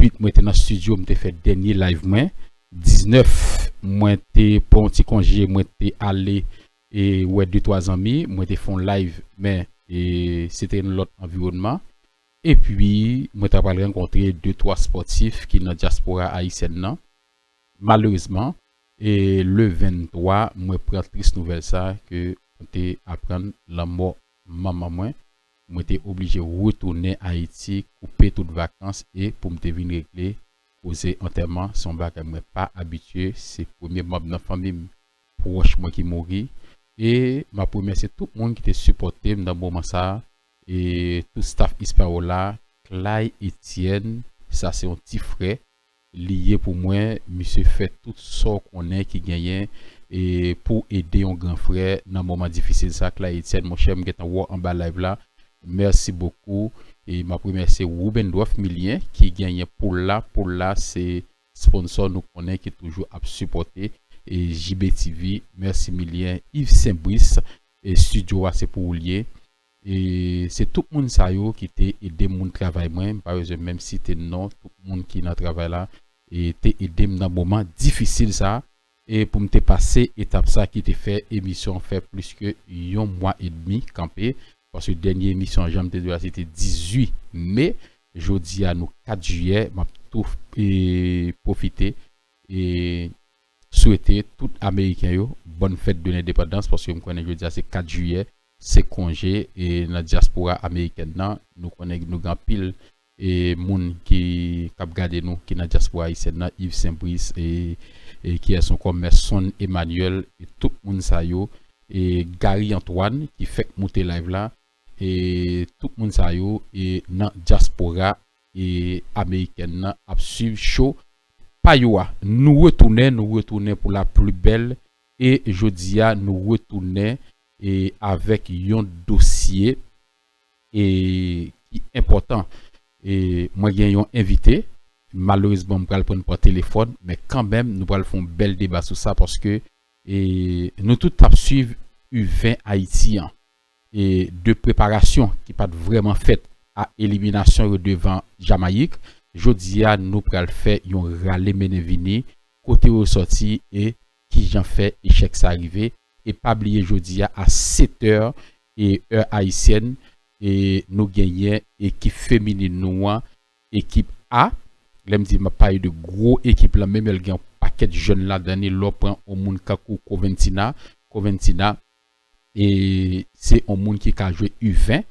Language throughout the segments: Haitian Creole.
8 mwen te nan studio mte fè dènye live mwen 19 mwen te pran yon ti konje mwen te ale e wè de twa zanmi mwen te fon live men e se te yon lòt anviwònman epi mwen ta pral rankontre de twa spòtif ki nan dyaspora ayisyèn nan Malerezman e le 23 mwen pran tris nouvèl sa ke mwen te aprann lanmò manman mwen, mwen te oblije retounen Ayiti koupe tout vakans e poum te vin regle koze antèman se yon bagay mwen pa abitye se premye manb nan fanmim pwòch mwen ki mouri e map remèsye tout moun ki te sipòtem nan moman sa e tout staf Hispaola, Clay Etienne sa se yon ti frè Li ye pou mwen misye fè tout sa w konnen ki genyen pou w ede yon gran frè nan moman difisil sa Clay Etienne monchè m gentan wè w anba live la merci beaucoup map remèsye Rubendrof Milien ki genyen pou l la pou l la se sponsor nou konnen ki toujou ap sipòte JBTV merci Milien Yves St Brice studio a se pou ou l ye E se tout moun sa yo ki te ede moun travay mwen, m pa bezwen menm site non tout moun ki nan travay la, e te ede m nan moman difisil sa a, e pou m te pase etap sa ki te fè emisyon an fè plis ke yon mwa edmi kanpe, paske dènye emisyon an jan m te di w la se te 18 me, jodi a nou 4 jiyè, m ap tou pwofite e swete tout ameriken yo bòn fèt de lendepandans, paske m konnen jodi a se 4 jiyè, se konje e nan dyaspora amerikèn nan nou konnen nou gen anpil e moun ki kap gade nou ki nan dyaspora ayisyèn nan Yves Saint Brice e kiyès ankò Merson Emmanuel e tout moun sa yo e Garry Antoine ki fèk moute live la e tout moun sa yo e nan dyaspora e amerikèn nan ap swiv show pa yo a nou retounen nou retounen pou la pli bèl e jodi a nou retounen e avèk yon dosye e ki enpòtan e mwen gen yon envite malerezman m pral prann pran telefòn men kanmenm nou pral fon bèl deba sou sa paske e nou tout tap swiv u 20 ayiti an e de preparasyon ki pat vrèman fèt a eliminasyon yo devan jamayik jodi a nou pral fè yon rale mennen vini kote yo sòti e kijan fè echèk sa rive e pa bliye jodi a a 7 è e è ayisyèn e nou genyen ekip feminin nou an ekip A lèm di map pale de gwo ekip lan menm lè gen yon pakèt jèn ladan li lè w pran yon moun kankou Coventina Coventina e se yon moun ki ka jwe u 20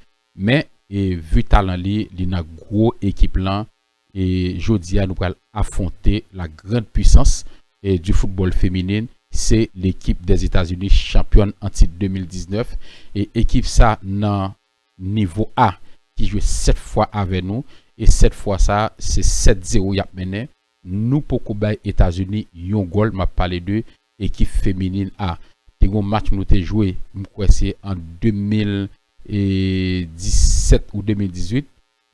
men e vu talan li li nan gwo ekip lan e jodia nou pral afwonte la grand pwisans di foutbòl feminin se lekip dè Etazini chanpyòn an tit 2019 e ekip sa nan nivo a ki jwe 7 fwa avè nou e 7 fwa sa se 7 zero yap mennen nou poko bay Etazini yon gòl map pale de ekip feminin a te gon match nou te jwe mkwè se an 2017 ou 2018.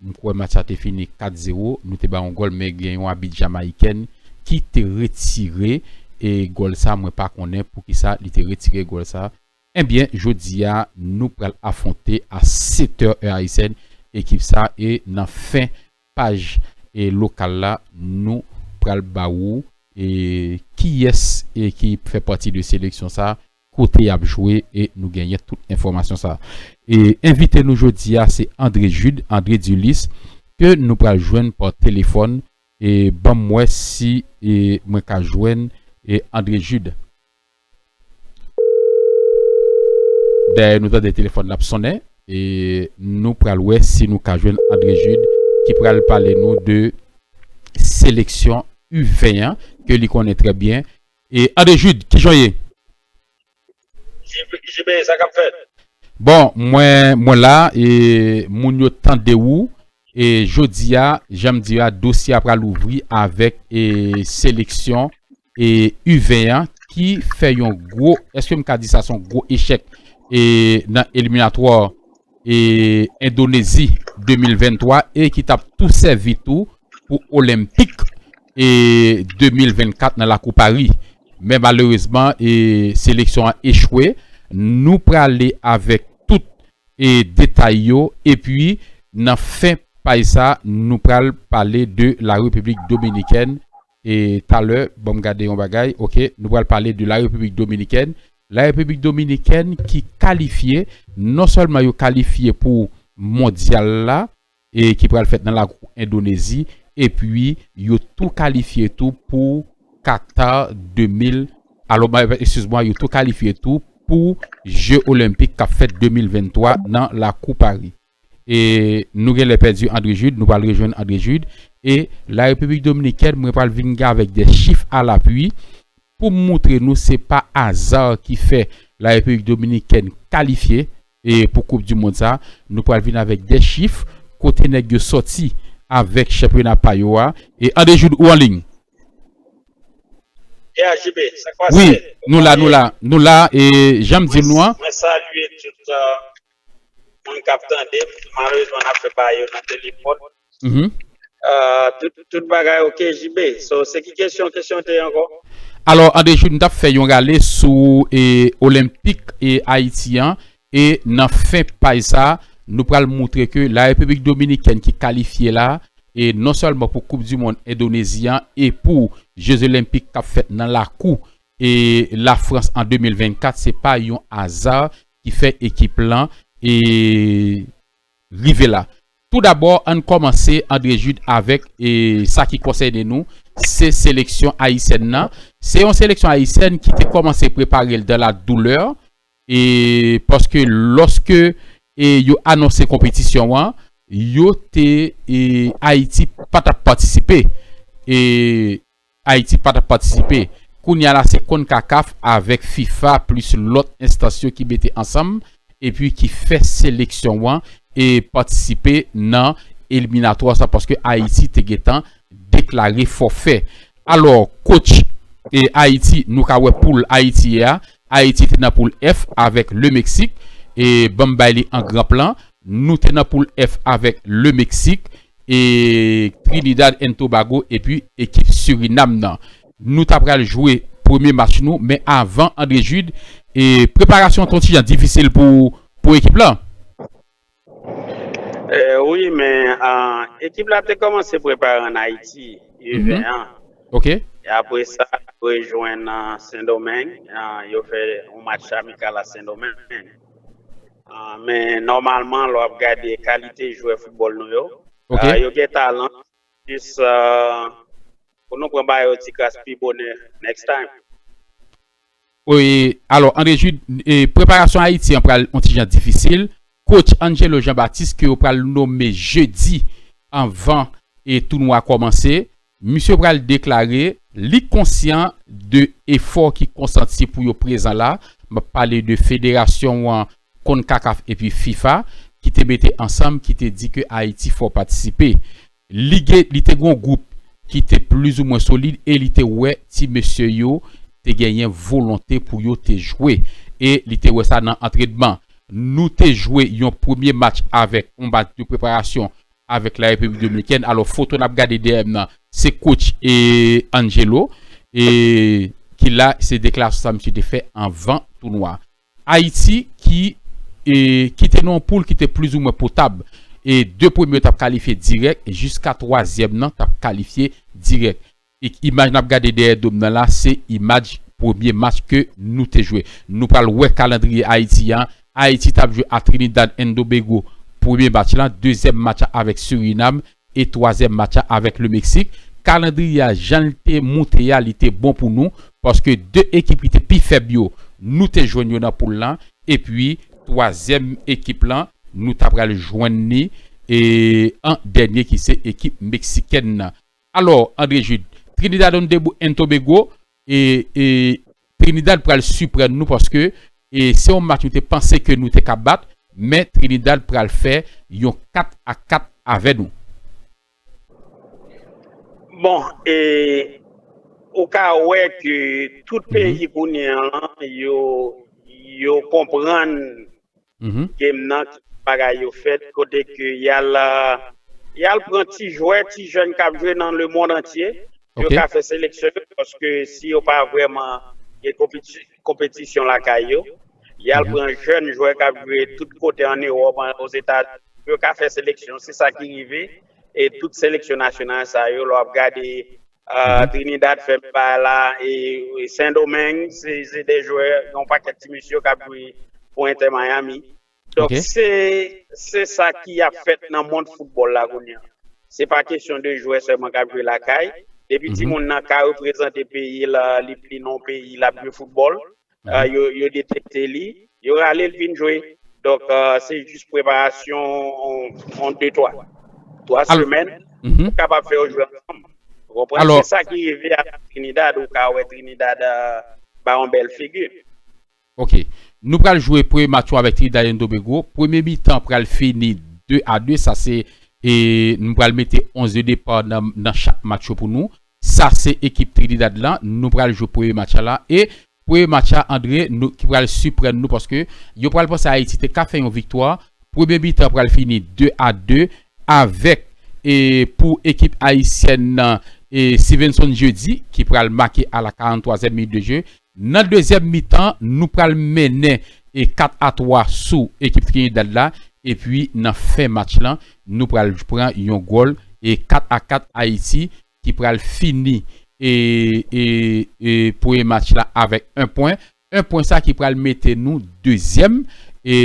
M kwè match la te fini 4 zero, nou te bay yon gòl men gen yon abit Jamayikèn ki te retire e gòl sa mwen pa konnen poukisa li te retire gòl sa. Ebyen jodi a nou pral afwonte a 7 è è ayisèn ekip sa e nan fen paj e lokal la nou pral ba ou e kiyès e ki fè pati de seleksyon sa kote yap jwe e nou genyen tout enfòmasyon sa. E envite nou jodi a se André Jude, André Dulis, ke nou pral jwenn pa telefòn e banm wè si e mwen ka jwenn e André Jude. Dèyè nou tande telefòn lap sonnen e nou pral wè si nou ka jwenn André Jude ki pral pale nou de seleksyon U 20 an ke li konnen trè byen E Ade Jude kijan w ye? JB sa kap fèt? Bon mwen mwen la e moun yo tande ou e jodia janm di a dosye a pral ouvri avèk e seleksyon e u 20 an ki fè yon gwo eske m ka di sa son gwo echèk e nan eliminatwa Endonezi 2023 e ki tap tou sèvi tou pou Olenpik 2024 nan lakou Pari. Men malerezman seleksyon an echwe. Nou prale avèk tout detay yo epi nan fen paj sa nou pral pale de la Repiblik Dominikèn e talè banm gade yon bagay ok nou pral pale de la repiblik dominikèn la repiblik dominikèn ki kalifye non sèlman yo kalifye pou mondyal la e ki pral fèt nan lakou endonezi epi yo tou kalifye tou pou Qatar 2000 alo ma eskiz mwa yo tou kalifye tou pou je olenpik kap fèt 2023 nan lakou paris. E nou genlè pèdi Andre Jude, nou pral rejwenn Andre Jude. E la Repiblik Dominikèn, mwen pral vin avèk de chif a lapui pou m moutre nou se pa aza ki fè la Repiblik Dominikèn kalifye pou koup di mond sa. Nou pral vin avèk de chif kote nèg yo sòti avèk chanpyona pa yo a. E Andre Jude ou an liy? Yeah JB, sa k pase? Wi, nou la, nou la, nou la. E jan m di nou an. Mwen salye tout. moun kap tande m malerezman nap fè bagay yo nan telefòn tout bagay ok JB so se ki kesyon kesyon te ankò? Alò Andrejou m tap fè yon rale sou olenpik Ayiti an e nan fen paj sa nou pral moutre ke la repiblik dominikèn ki kalifye la e non sèlman pou koup di mond endonezi an e pou je zolenpik kap fèt nan lakou e Lafrans an 2024 se pa yon aza ki fè ekip lan e rive la. Tou dabò ann kòmanse Andre Jude avèk e sa ki konsène nou se seleksyon ayisyèn nan. Se yon seleksyon ayisyèn ki te kòmanse prepare l dan la doulè e paske lòske e yo anonse konpetisyon an yo te e Ayiti pa t ap patisipe e Ayiti pa t ap patisipe. Kounya la se Concacaf avèk fifa plis lòt enstans yo ki mete ansanm epi ki fè seleksyon an e patisipe nan eliminatwa sa paske Ayiti te gentan deklare fòfè. Alò coach e Ayiti nou ka wè poul Ayiti ye a. Ayiti te nan poul F avèk Le Mexique e banm bay li an gran plan. Nou te nan poul F avèk Le Mexique e Trinidad and Tobago epi ekip Surinam nan. Nou ta pral jwe premye match nou men avan Andre Jude e preparasyon an kontijan difisil pou ekip la. Wi men ekip la te kòmanse prepare an Ayiti U 20 an e apre sa yo rejwenn Sendomeng yo fè yon match amikal a Sendomeng. Ah, men nòmalman lò ap gade kalite jwè foutbòl nou yo, Ok. ah, yo gen talan. Jis ah, pou nou pran ba yo ti kras pi bonè next time. Wi, alò Andre Jude, e preparasyon Ayiti an pral yon ti jan difisil. Coach Angelo Jean Baptiste ke yo pral nome jedi anvan e tounwa kòmanse. Misye pral deklare li konsyan de efò ki konsanti pou yo prezan la, m ap pale de federasyon an, Concacaf epi fifa, ki te mete ansanm ki te di ke Ayiti fò patisipe. Li gen, li te gen yon gwoup ki te plizoumwen solid e li te wè ti mesye yo te genyen volonte pou yo te jwe e li te wè sa nan antrenman. Nou te jwe yon premye match avèk yon match de preparasyon avèk la Repiblik Dominikèn alò foto nap gade dèyè m nan se coach Angelo ki la se deklarasyon sa misye te fè anvan tounwa Ayiti ki kite nan yon poul ki te plizoumwen potab e 2 premye yo tap kalifye dirèk jiska 3 zyèm nan tap kalifye dirèk Imaj nap gade dèyè dom nan la se imaj premye match ke nou te jwe. Nou pral wè kalandriye Ayiti an. Ayiti tap jwe a Trinidad and Tobago premye match la, dezyèm match la avèk Surinam e twazyèm match la avèk Le Meksik. Kalandriye a jan l te moute a li te bon pou nou paske 2 ekip ki te pi fèb yo nou te jwenn yo nan poul lan epi twazyèm ekip lan nou ta pral jwenn li an dènye ki se ekip meksikèn nan. Alò, Andre Jude, Trinidad and Tobago, Trinidad pral siprann nou paske se yon match nou te panse ke nou te ka bat, men Trinidad pral fè yon 4 a 4 avè nou. Bon, e ou ka wè ke tout peyi kounye an, yo konprann game nan ki jan bagay yo fèt kote ke yal pran ti jwè ti jèn kap jwe nan le mond antye pou yo ka fè seleksyon yo paske si yo pa vrèman gen konpetisyon lakay yo yal pran jèn jwè kap jwe tout kote an Europe an Ozeta pou yo ka fè seleksyon se sa ki rive e tout seleksyon nasyonal sa yo lò ap gade Trinidad fèm pa la e Sendomeng se de jwè yon pakèt ti misye kap jwe pou Inter Miami. Donk se sa ki ap fèt nan mond foutbòl la kounye an. Se pa kesyon de jwè sèlman kap jwe lakay. Depi timoun nan ka reprezante peyi li non peyi lap jwe foutbòl. yo detekte li, yo rale l vin jwe. Donk se jis preparasyon yon de twa, twa semèn pou kapab fè yo jwe ansanm. Ou konprann? Se sa ki rive a Trinidad, ou ka wè Trinidad ba yon bèl figi. Ok. Nou pral jwe premye match yo avèk Trinidad and Tobago. Premye mitan pral fini 2 a 2. Sa se, nou pral mete 11 de depa nan chak match yo pou nou. Sa se ekip Trinidad la nou pral jwe premye match a la e premye match a Andre nou ki pral siprann nou paske yo pral panse Ayiti te ka fè yon viktwa premye mitan an pral fini 2 a 2 avèk e pou ekip ayisyèn nan e Stevenson Jeudi ki pral make a la 43 èm minit de je Nan dezyèm mitan, nou pral mennen 4 a 3 sou ekip Trinidad la epi nan fen match lan nou pral pran yon gòl 4 a 4 Ayiti ki pral fini premye match la avèk 1 pwen. 1 pwen sa ki pral mete nou dezyèm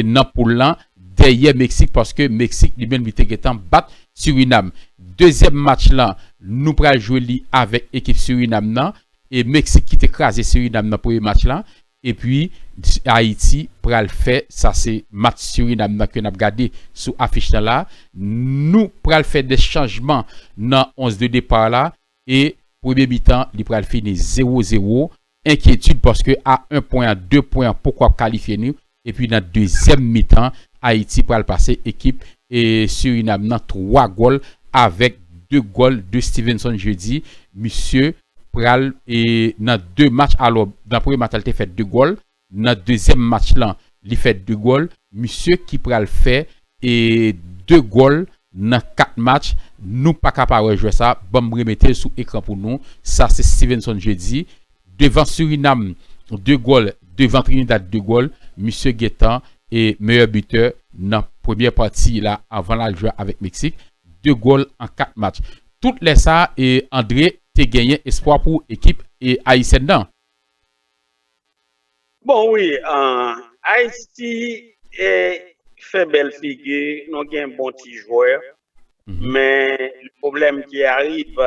nan poul lan dèyè Meksik paske Meksik li menm li te gentan bat Surinam. Dezyèm match lan nou pral jwe li avèk ekip Surinam nan. E Meksik kite kraze Surinam nan premye match la epi Ayiti pral fè sa se match Surinam nan ke nap gade sou afich lan la nou pral fè de chanjman nan 11 de depart la e premye mitan li pral fini 0 0 enkyetid paske a 1 pwen a 2 pwen an poko ap kalifye nou Epi nan dezyèm mitan Ayiti pral pase ekip Surinam nan 3 gòl avèk 2 gòl de Stevenson Jeudi misye pral nan 2 match alò nan premye match la li te fè 2 gòl nan dezyèm match lan li fè 2 gòl misye ki pral fè 2 gòl nan 4 match nou paka pa wè jwè sa banm remetel sou ekran pou nou sa se Stevenson Jeudi Devan Surinam 2 gòl devan Trinidad 2 gòl, misye gentan e meyè bitè nan premyè pati la avan l al jwe avèk Meksik, 2 gòl an 4 match. Tout lè sa e André te genyen espwa pou ekip e ayisyèn nan. Bon wi Ayiti e fè bèl figi, nou gen bon ti jwè men pwoblèm ki arib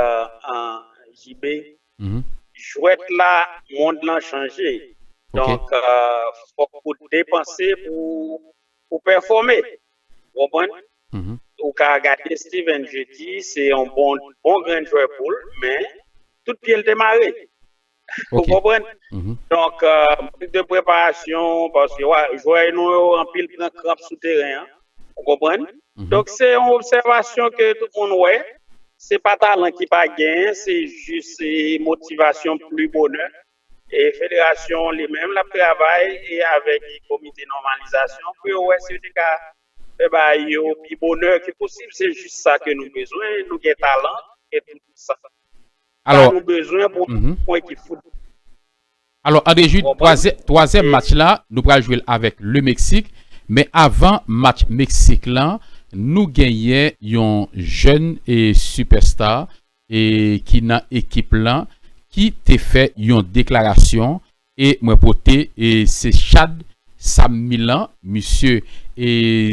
JB Jwèt la mond lan chanje donk fòk ou depanse pou pèfòme ou konprann ou ka gade Steven je di se yon bon grenn jwè boul men tout pyel te mare ou konprann donk mank de preparasyon paske jwè nou yo anpil pran kranp sou teren an. Ou konprann? Donk se yon obsèvasyon ke tout moun wè. Se pa talan ki pa gen, se jis se motivasyon pli bonè. E federasyon li menm l ap travay e avèk komite nòmalizasyon pou yo wè si yo te ka fè bagay yo pi bonè ke posib. Se jis sa ke nou bezwen. Nou gen talan, nou gen tout sa nou bezwen pou yon ekip foutbòl. Alò Andre Jude, twazyèm match la nou pral jwe l avèk Le Meksik, men avan match Meksik lan nou genyen yon jèn super star ki nan ekip lan ki te fè yon deklarasyon e mwen pote se Chad Sam Milan, misye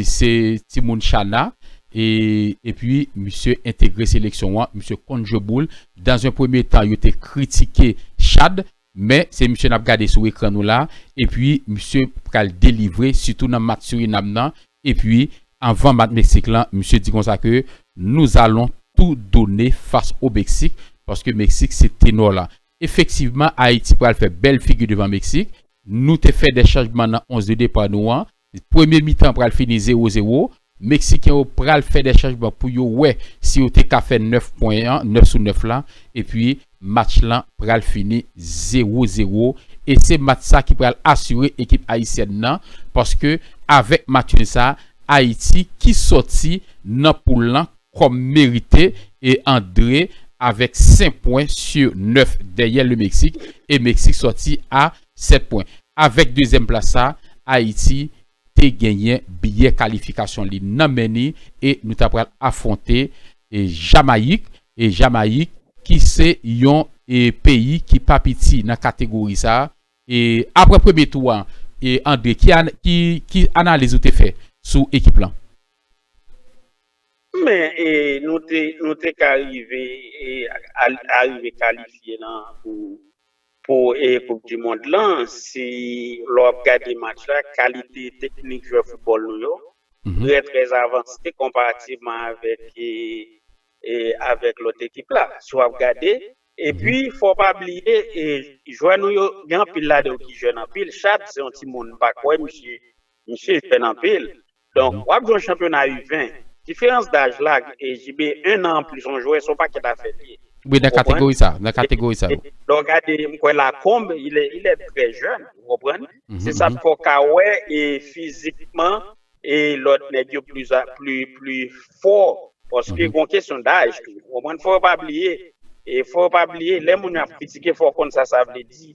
se timoun Chana epi misye entegre seleksyon an, misye konn jwe boul, Dans un premier temps yo te kritike Chad men se misye nap gade sou ekran nou la epi misye pral delivre sitou nan match Suriname nan epi anvan match Mexique lan misye di konsa ke nous allons tout donner face au Mexique paske Mexique se tenor lan effectivement Haïti pral fè bèl figi devan Mexique nou te fè des changements nan 11 de départ nou an Premye mitan pral fini 0 0, Meksiken yo pral fè dè chanjman pou yo wè si yo te ka fè 9 pwen an, 9 sou 9 la, epi match lan pral fini 0 0, e se match sa ki pral asire ekip ayisyèn nan, paske avèk match nul sa, Ayiti ki sòti nan poul lan kòm merite e andre avèk 5 pwen su 9 dèyè le Meksik, e Meksik sòti a 7 pwen. Avèk dezyèm plas sa, Ayiti te genyen biyè kalifikasyon li nan men ni e nou ta pral afwonte Jamayik. Jamayik ki se yon peyi ki pa piti nan kategori sa. Aprè premye tou an, Andre ki analiz ou te fè sou ekip lan? Men nou te ka rive kalifye nan pou Pou koup di mond lan si lè wap gade match la kalite teknik jwè foutbòl nou yo trè trè avanse konparativman avèk lòt ekip la si wap gade epi fò pa bliye jwè nou yo gen anpil ladan yo ki jèn anpil Chaad se yon timoun m pa kwè misye jèn anpil Donk wap jwe yon chanpyona u 20, diferans daj la e JB 1 an anplis yon jwè son pakèt afè li ye. Wi nan kategori sa, nan kategori sa wi. Lè w gade m kwè Lacombe il est il est très jeune ou konprann, se sa fè w ka wè e fizikman e lòt nèg yo plis a plis plis fò paske gon kesyon daj tou ou konprann fò yo pa bliye e fò yo pa bliye lè moun yo ap kritike fò w konn sa sa vle di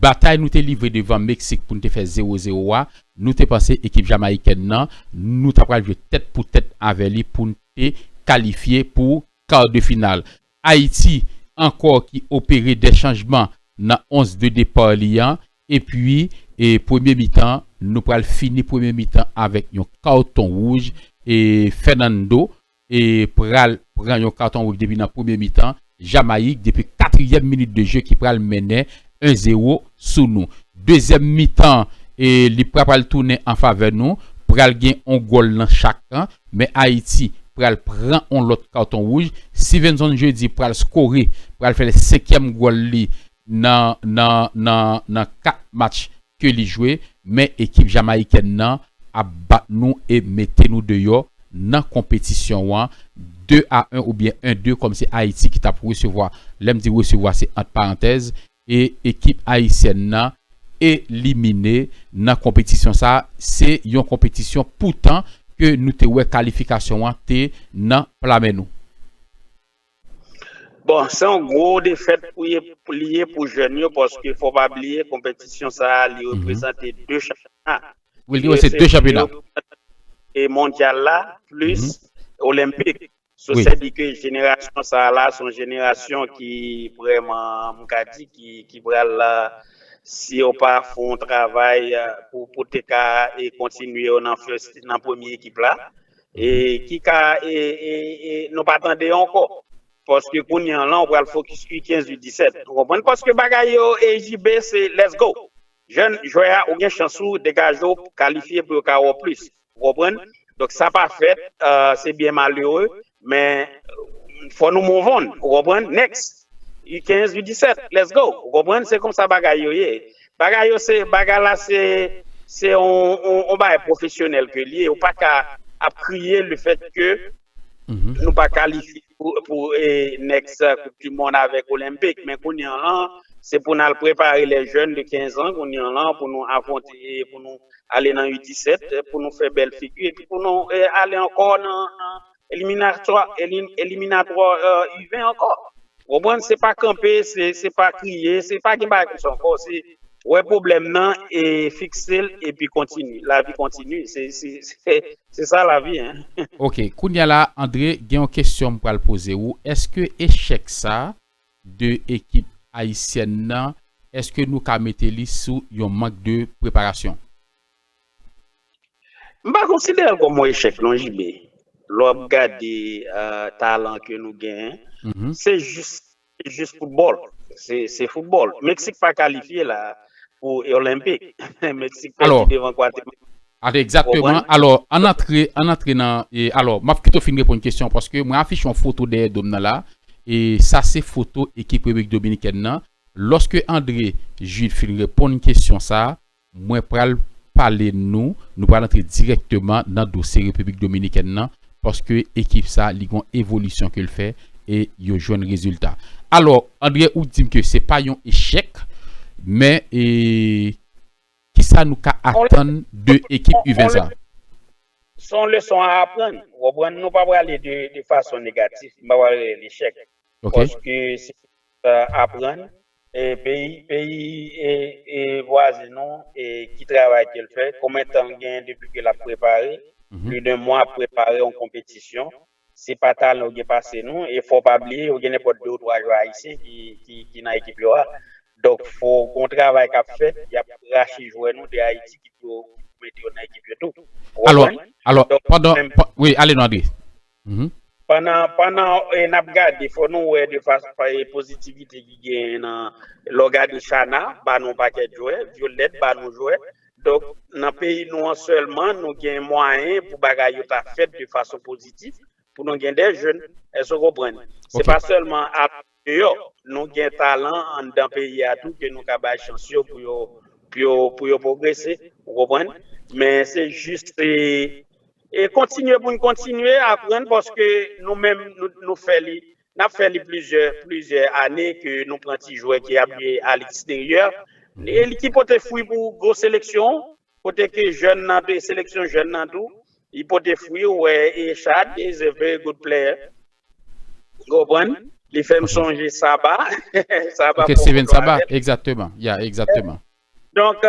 Batay nou te livre devan Meksik pou n te fè 0 0 a, nou te panse ekip Jamayikèn nan, nou ta pral jwe tèt pou tèt avè li pou n te kalifye pou kar de final. Ayiti ankò ki opere de chanjman nan 11 de depar li an, epi premye mitan, nou pral fini premye mitan avèk yon karton wouj Fernando pral pran yon katon wouj depi nan premye mitan, Jamayik depi katriyèm minit de je ki pral mennen 1 zero sou nou. Dezyèm mitan li pra pral tounen an favè nou, pral gen yon gòl nan chak kan, men Ayiti pral pran yon lòt katon wouj, Sivenson Jeudi pral skore, pral fè senkyèm gòl li nan nan nan nan 4 match ke li jwe men ekip Jamayikèn nan ap bat nou e mete nou deyò nan konpetisyon an 2 a 1 oubyen 1 2 kòm se Ayiti ki tap resevwa lè m di resevwa se ant parantèz e ekip Ayisyèn nan elimine nan konpetisyon sa se yon konpetisyon poutan ke nou te wè kalifikasyon an te nan pla men nou. Bon, se yon gwo defèt pou li ye pou jèn yo paske fò pa bliye konpetisyon sa a li reprezante 2 chanpyona. Wi, li reprezante 2 chanpyona. E mondyal la plis olenpik. Wi. Sa di ke jenerasyon sa a la se yon jenerasyon ki vrèman m ka di ki pral si yo pa fè yon travay pou te ka kontinye yo nan premye ekip la. E ki ka e nou pa tande ankò. Paske kounye an lan ou pral fokis ui 15 ui 17. Ou konprann paske bagay yo e JB se let's go. Jèn jwè a ou gen chans ou degaje ou kalifye pou yo ka wè w plis. Ou konprann. Donk sa pa fèt se byen malere men fò nou move on ou konprann. Next ui 15 ui 17 let's go. Ou konprann se konsa bagay yo ye. Bagay yo se, bagay la se, se yon bagay pwofesyonèl ke li ye, ou pa ka ap kriye le fèt ke nou pa kalifye pou next koup di mond avèk olenpik, men kounye an lan, se pou nan prepare lè jèn de 15 an kounye an lan pou nou afwonte, pou nou ale nan U17 pou nou fè bèl figi epi pou nou ale ankò nan Eliminatwa eliminatwa u 20 ankò ou konprann se pa kanpe se pa kriye se pa gen bagay konsa ankò se wè pwoblèm nan e fiksel epi kontinye lavi kontinye se sa lavi hein. Ok kounya la Andre gen yon kesyon m pral poze ou eske echèk sa de ekip ayisyèn nan eske nou ka mete li sou yon mank de preparasyon? M pa konsidere l kòm yon echèk non JB. Lè w ap gade talan ke nou genyen, se jis jis foutbòl. Se foutbòl. Meksik pa kalifye la a pou Olenpik. Meksik pèdi devan Gwatemala. Egzakteman. Alò, ann antre, ann antre nan e alò, m ap kite w fin reponn kesyon an paske mwen afiche yon foto dèyè do m nan la a. E sa se foto ekip Repiblik Dominikèn nan. Lòske André Jude fin reponn kesyon sa a, Mwen pral pale nou, nou pral antre dirèkteman nan dosye Repiblik Dominikèn nan, paske ekip sa li gon evolisyon ke l fè e yo jwenn rezilta. Alò, Andre ou di m ke se pa yon echèk, men e kisa nou ka atann de ekip U20 sa? Se yon leson a aprann, ou konprann, nou pa prale de fason negatif, m pa pral rele l echèk, paske se yon leson a aprann, Peyi vwazen nou ki travay ke l fè, konbyen tan l genyen depi ke l ap prepare, pli de 1 mwa ap prepare yon konpetisyon, se pa talan yo gen pase nou, e fò w pa bliye yo gen nenpòt 2 ou 3 jwè ayisyen ki nan ekip yo a, donk fò gon travay k ap fèt, y ap rache jwè nou de Ayiti ki pou mete yo nan ekip yo tou, ou konprann? Alò, pandan, wi, ale non André. Pandan n ap gade, fò nou wè de pozitivite ki genyen nan lè w gade Shana ba nou pakèt jwè, Violette ba nou jwè. Donk nan peyi nou an sèlman nou gen mwayen pou bagay yo ta fèt de fason pozitif pou nou gen de jèn. Èske w konprann? Se pa sèlman ap deyò. Nou gen talan anndan peyi a tou ke nou ka bay chans yo pou yo pou yo pwogrese ou konprann men se jis se e kontinye pou n kontinye aprann paske nou menm nou fè li n ap fè li plizyè plizyè ane ke nou pran ti jwè ki ap jwe a leksteryè e li ki pote fwi pou gwo seleksyon Kote ke jèn nan te seleksyon jèn nan tou li pote fwi ou wè Echad is a very good player ou konprann li fèm sonje Saba Saba ok Steven Saba egzateman ya egzateman. Donk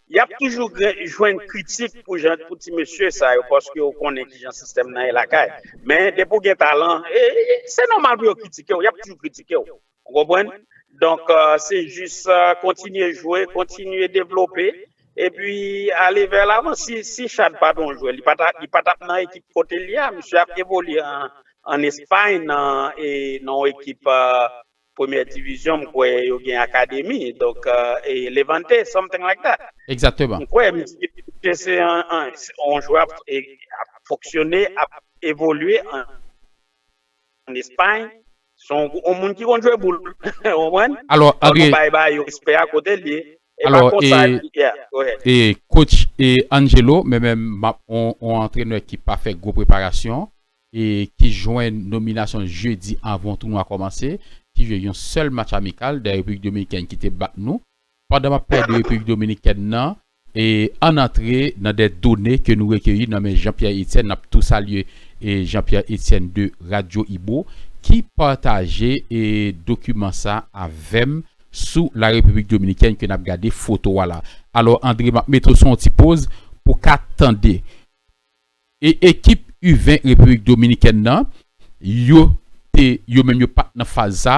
yap toujou jwenn kritik pou jan pou ti mesye sa yo paske yo konnen kijan sistèm nan ye lakay men depi ou gen talan se nòmal pou yo kritikew yap toujou kritikew Ou konprann? Donk, se jis kontinye jwe, kontinye devlope, epi ale vè lavan. Si Chad pa t on jwè, li pa t ap nan ekip kote l ye a. Misye ap evolye an Espay nan on ekip premyè divizyon, m kwè yo gen akademi. Donk, Levante, something like that. Egzakteman. M kwè misye se on jwè ap fonksyone, ap evolye an. an Espagne son on moun ki konn jwe boul ou konprann alò nou bay bay yo respè a kotel ye e pa konsa yeah go ahead e coach Angelo men menm map on antrenè ki pa fè gwo preparasyon e ki jwenn nominasyon jedi avan tounwa kòmanse ki jwe yon sèl match amikal dè Repiblik Dominikèn ki te bat nou Pandan map pale de Repiblik Dominikèn nan, ann antre nan de done ke nou rekeyi nan men Jean Pierre Etienne, nap tou salye Jean Pierre Etienne de Radio Ibo ki pataje dokiman sa avèm sou la Repiblik Dominikèn ke nap gade foto a la. Alò André map mete w sou yon ti poz pou ka tande. E ekip u 20 Repiblik Dominikèn nan, yo te yo menm yo pat nan faz sa,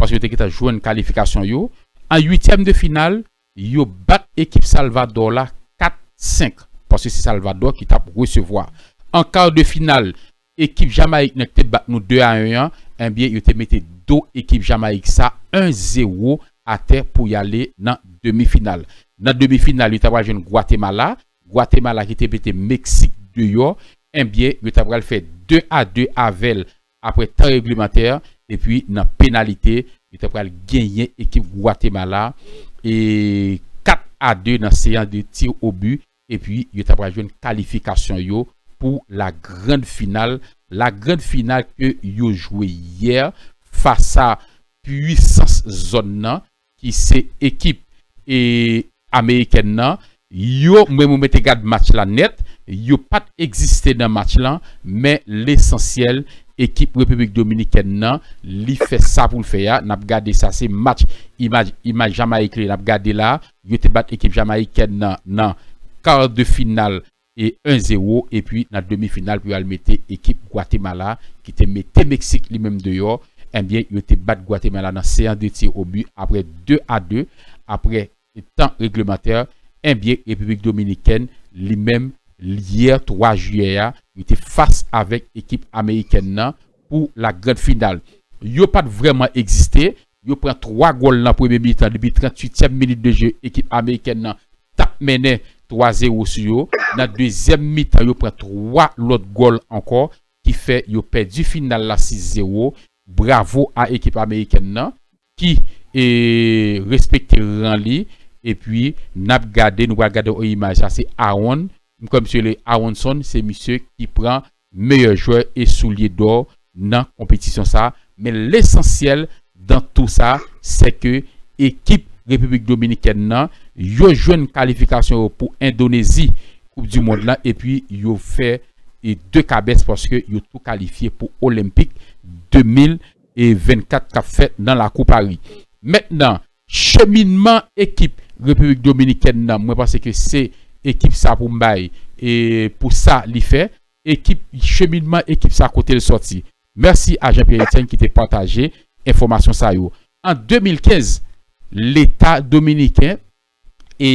paske yo te gentan jwenn kalifikasyon yo. An uityèm de final, yo bat ekip Salvadò la 4, 5, paske se Salvadò ki tap resevwa. An kar de final, ekip Jamayik nan ki te bat nou 2 a 1 an, enbyen yo te mete do ekip Jamayik sa 1 zewo atè pou yale nan demi final. Nan demi final, yo ta pral jwenn Gwatemala, Guatemala ki te mete Meksik deyò enbyen yo ta pral fè 2 a 2 avèl aprè tan reglemantè epi nan penalite yo ta pral genyen ekip Guatemala 4 a 2 nan seyans de tir o but epi yo ta pral jwenn kalifikasyon yo pou la grand final la grand final ke yo jwe yè fas a pwisans zòn nan ki se ekip e amerikèn nan yo mwen mwen te gad match la nèt yo pat egziste nan match lan men lesansyèl ekip repiblik dominikèn nan li fè sa poul fè a nap gade sa se match imaj imaj jamayik li nap gade la yo te bat ekip jamayikèn nan nan kar de final e 1 zero epi nan demi final pou yo al mete ekip Gwatemala ki te mete Meksik li menm deyò enbyen yo te bat Gwatemala nan seans de tir o but aprè 2 a 2 aprè tan reglemantè enbyen Repiblik Dominikèn li menm lyè 3 jiyè a yo te fas avèk ekip amerikèn nan pou la grand final yo pat vrèman egziste Yo pran 3 gòl nan premye mitan depi 38 tièm minit de je ekip amerikèn nan tap mennen 3 zero sou yo nan dezyèm mitan yo pran 3 lòt gòl ankò ki fè yo pèdi final la 6 zero bravo a ekip amerikèn nan ki respekte ran li epi nap gade nou pral gade yon imaj la se Aaron m kwè misye rele Aaronson se misye ki pran meyè jwè e soulye dò nan konpetisyon sa, men lesansyèl dan tou sa sè ke ekip Repiblik Dominikèn nan yo jwenn kalifikasyon yo pou Endonezi koup di mond lan epi yo fè 2 kabès paske yo tou kalifye pou Olenpik 2024 kap fèt nan lakou Pari. Mèt nan. Cheminman ekip Repiblik Dominikèn nan mwen panse ke se ekip sa pou m bay pou sa li fè. Ekip cheminman ekip sa kote l sòti. Mèsi a Jean Pierre Etienne ki te pataje enfòmasyon sa yo. An 2015 leta dominiken e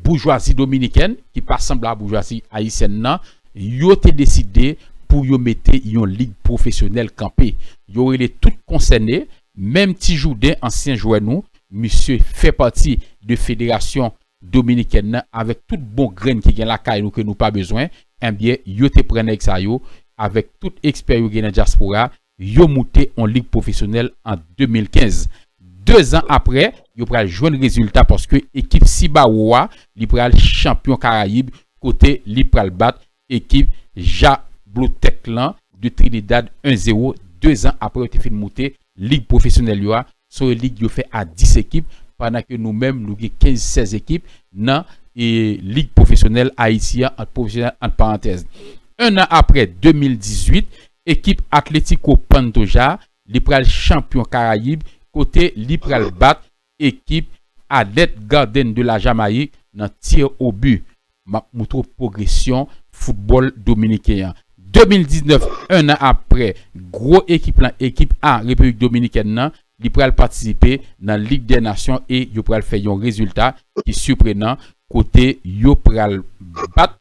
boujwazi dominikèn ki pa sanble a boujwazi ayisyèn nan yo te deside pou yo mete yon lig pwofesyonèl kanpe. Yo rele tout konsène Menm ti jouden ansyen jwè nou misye fè pati de federasyon dominikèn nan avèk tout bon grenn ki gen lakay nou ke nou pa bezwen enbyen yo te pran nèg sa yo avèk tout ekspè yo gen nan dyaspora yo moute on lig pwofesyonèl an 2015 2 zan aprè yo pral jwenn rezilta paske ekip Cibao a li pral chanpyon karayib kote li pral bat ekip Jablotèk lan de Trinidad 1 0 2 zan apre yo te fin moute lig pwofesyonèl yo a. Son yon lig yo fè a 10 ekip pandan ke nou menm nou gen 15 16 ekip nan lig pwofesyonèl Ayiti an ant pwofesyonèl ant parantèz. 1 an apre 2018 ekip Atlético Pantoja li pral chanpyon Karayib kote li pral bat ekip Adet Garden de la Jamayik nan tir au but. Map moutre w pwogresyon foutbòl dominiken an. 2019, 1 an apre gwo ekip lan, ekip A Repiblik Dominikèn lan, li pral patisipe nan Lig dè Nasyon e yo pral fè yon rezilta ki siprenan kote yo pral bat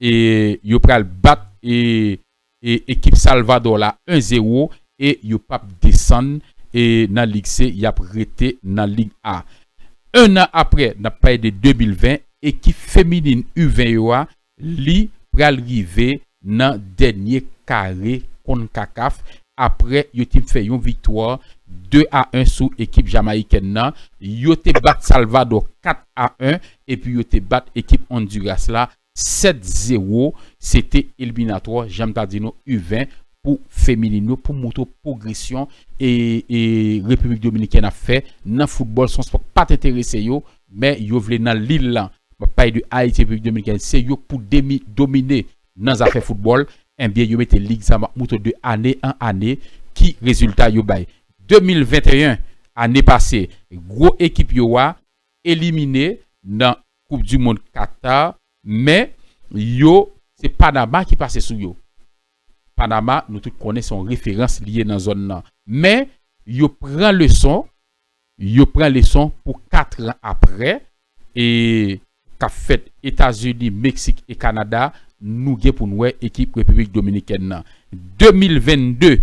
e yo pral bat e ekip Salvador la 1 zero e yo pap desann nan lig se yap rete nan lig A. 1 an aprè nap pale de 2020 ekip feminin u 20 yo a li pral rive nan dènye kare Concacaf aprè yo te fè yon viktwa 2 a 1 sou ekip Jamayikèn nan yo te bat Salvador 4 a 1 epi yo te bat ekip Honduras la 7 zero se te eliminatwò janm ta di nou u 20 pou feminin yo pou moutre w pwogresyon repiblik dominikèn ap fè nan foutbòl son spò k pat enterese yo men yo vle nan lil lan map pale de ayiti repiblik dominikèn se yo k pou demi domine nan zafè foutbòl enbyen yo mete lig sa map moutre w de ane an ane ki rezilta yo bay 2021 ane pase gwo ekip yo a. elimine nan koup du mond Qatar men yo se Panama ki pase sou yo Panama nou tout konnen se yon referans li ye nan zòn nan men yo pran leson yo pran leson pou 4 ran aprè e kap fèt Etazini Meksik e Kanada nou gen poun wè ekip Repiblik Dominikèn nan 2022.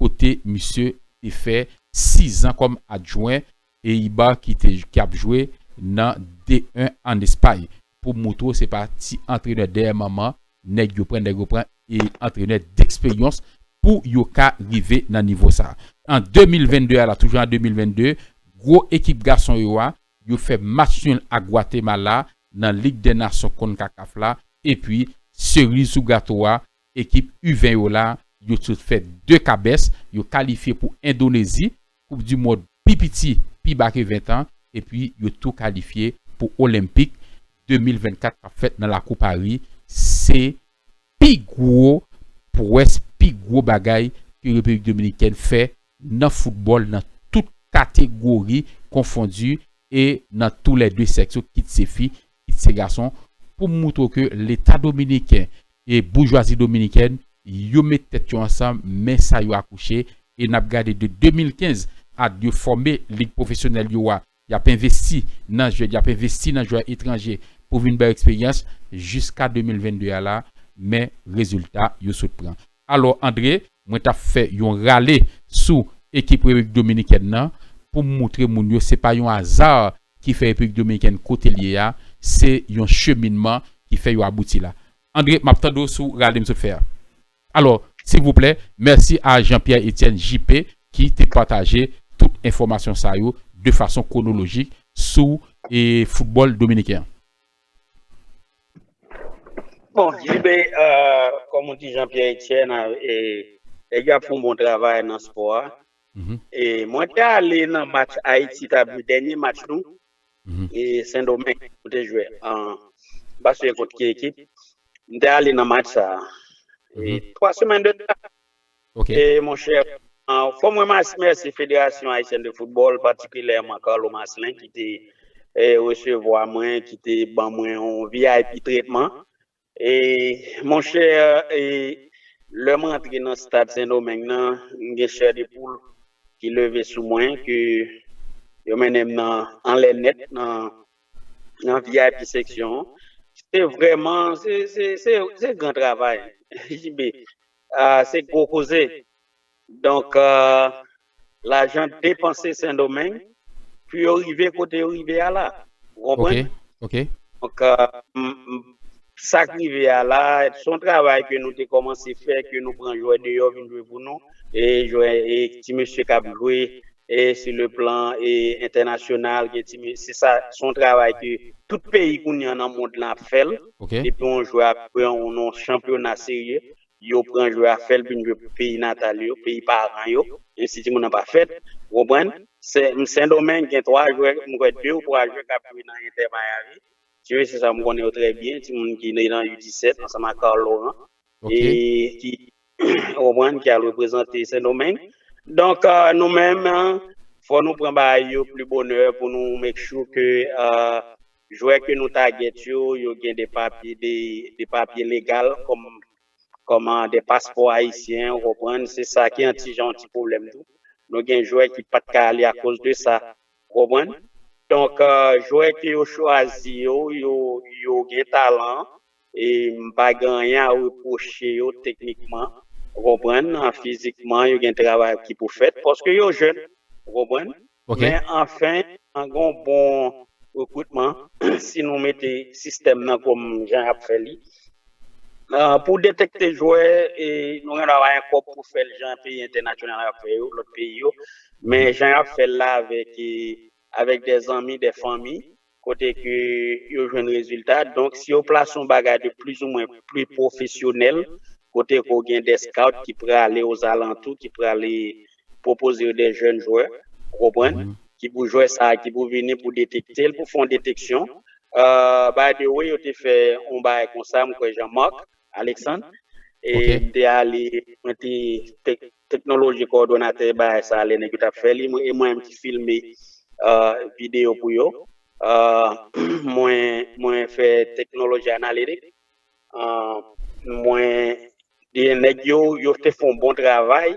kote misye te fè 6 zan kòm adjwen Eibar ki te ki ap jwe nan D1 an Espay pou moutre w se pa ti antrenè dèyè manman nèg yo pran, nèg yo pran e antrenè deksperyans pou yo ka rive nan nivo sa an 2022 a la toujou an 2022 gwo ekip gason yo a yo fè match nul ak Gwatemala nan lig dè nasyon Concacaf la epi seriz sou gato a Ekip U20 yo la, yo sot fè 2 kabès, yo kalifye pou Endonezi, koup di mond pi piti pi ba ke 20 an, epi yo tou kalifye pou Olenpik 2024 kap fèt nan lakou Pari, se pi gwo pwès, pi gwo bagay ke Repiblik Dominikèn fè nan foutbòl nan tout kategori konfondi e nan tou lè 2 sèks yo kit se fi Misye gason poum moutre w ke leta dominiken e boujwazi dominikèn yo met tèt yo ansanm men sa yo akouche e nap gade de 2015 ad yo fòme lig pwofesyonèl yo a yap envesti nan jwèt yap envesti nan jwè etranje pou vin bayo eksperyans jiska 2022 a la men rezilta yo sot pran alò Andre Mwen t ap fè yon rale sou ekip Repiblik Dominikèn nan pou m moutre moun yo se pa yon aza ki fè Repiblik Dominikèn kote l ye a, se yon cheminman ki fè yo abouti la. Andre, m ap tande w sou rale m sot fè a. Alò, silvouplè, mèsi a Jean Pierre Etienne, JP, ki te pataje tout enfòmasyon sa yo de fason kwonolojik sou foutbòl dominiken an. Bon, JB, kòm ou di Jean-Pierre Etienne, nèg yo ap fè yon bon travay nan spò a. E mwen te ale nan match Ayiti ta jwe, dènye match nou, e Sendomeng nou te jwe an, m pa siyen kont ki ekip. M te ale nan match sa a. E 3 semèn de sa, Ok. Mon chè, fò mwen mèsi Federasyon Ayisyèn de Foutbòl, patikilèman Carlo Marcelin ki te resevwa mwen, ki te ban mwen yon vip tretman. Mon chè, lè mwen antre nan stad Sendomeng nan, m gen chè de poul ki leve sou mwen ke yo mennen m nan anlè nèt nan vip seksyon. Se vrèman, se gran travay. JB, Ahh se gwo koze. Donk lajan depanse sendomeng pou yo rive kote yo rive a la. Ou konprann? Ok. Donk sak rive a la son travay ke nou te komanse fè ke nou pran jwè deyò vin jwe pou nou e ti mesye kap jwe e sou le plan e entènasyonal gen ti se sa se yon travay ke tout peyi kounye an nan mond lan ap fè l depi yon jwè a pran yon non chanpyona serye yo pran jwè a fè l vin jwe pou peyi natal yo peyi paran yo menm si timoun nan pa fèt ou konprann sendomeng gen 3 jwè m kwè 2 ou 3 jwè k ap jwe nan entè mayami si yo se sa m konnen yo trè byen timoun ki nan u 17 ansanm ak carl laurent e ki ou konprann, ki al reprezante Sendomeng. Donk nou menm, fò nou pran bagay yo pli bonè pou nou make sure ke jwè ke nou target yo, yo gen de papye, de papye legal kòm, kòm de paspò ayisyen, ou konprann, se sa ki an ti jan yon ti pwoblèm tou. Nou gen jwè ki pa t ka ale akoz de sa, ou konprann. Donk jwè ke yo chwazi yo, yo gen talan. E m pa gen anyen a repwoche yo teknikman, ou konprann, fizikman yo gen travay ki pou fèt paske yo jèn, ou konprann. Men anfen, gen yon bon rekritman si nou mete sistèm nan kòm jan y ap fè li. Pou detekte jwè, nou gen dwa bay yon kòb pou fè l jan peyi entènasyonal yo ap fè yo, lòt peyi yo. Men jan y ap fè l la avèk de zanmi, de fanmi, kote ke yo jwenn rezilta, donk si yo plase yon bagay de plis ou mwen pli pwofesyonèl, kote ke w gen dè scout ki prale ozalantou, ki prale pwopoze yo dè jèn jwè, ou konprann, ki pou jwè sa a, ki pou vini pou detekte l, pou fè yon deteksyon, by the way yo te fè yon bagay konsa, m kwè Jean Marc, Alexandre. E Ok. m te ale, mwen te tek, teknoloji kowòdonatè bagay sa lè nèg yo t ap fè li, mwen e mwen menm ki filme euh, videyo pou yo. Euh, mwen, mwen fè teknoloji analitik. Euh, mwen e nèg yo, yo te fè yon bon travay.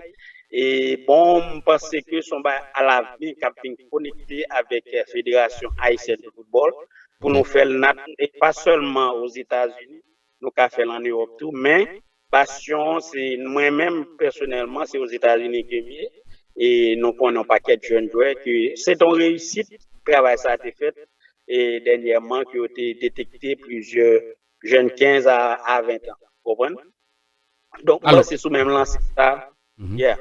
E bon, m panse ke s on bagay alavni k ap vin konekte avèk Federasyon Ayisyèn de Foutbòl pou nou fè l nan, e pa sèlman Ozetazini, nou ka fèl an Europe tou men passion se mwen menm pèsonèlman se ozetazini kem ye e nou konnen yon pakèt jèn jwè ke se ton reyisit travay sa te fèt e dènyèman ke yo te detekte plizyè jèn 15 a 20 tan konprann donk mwen se sou menm lanse sa yeah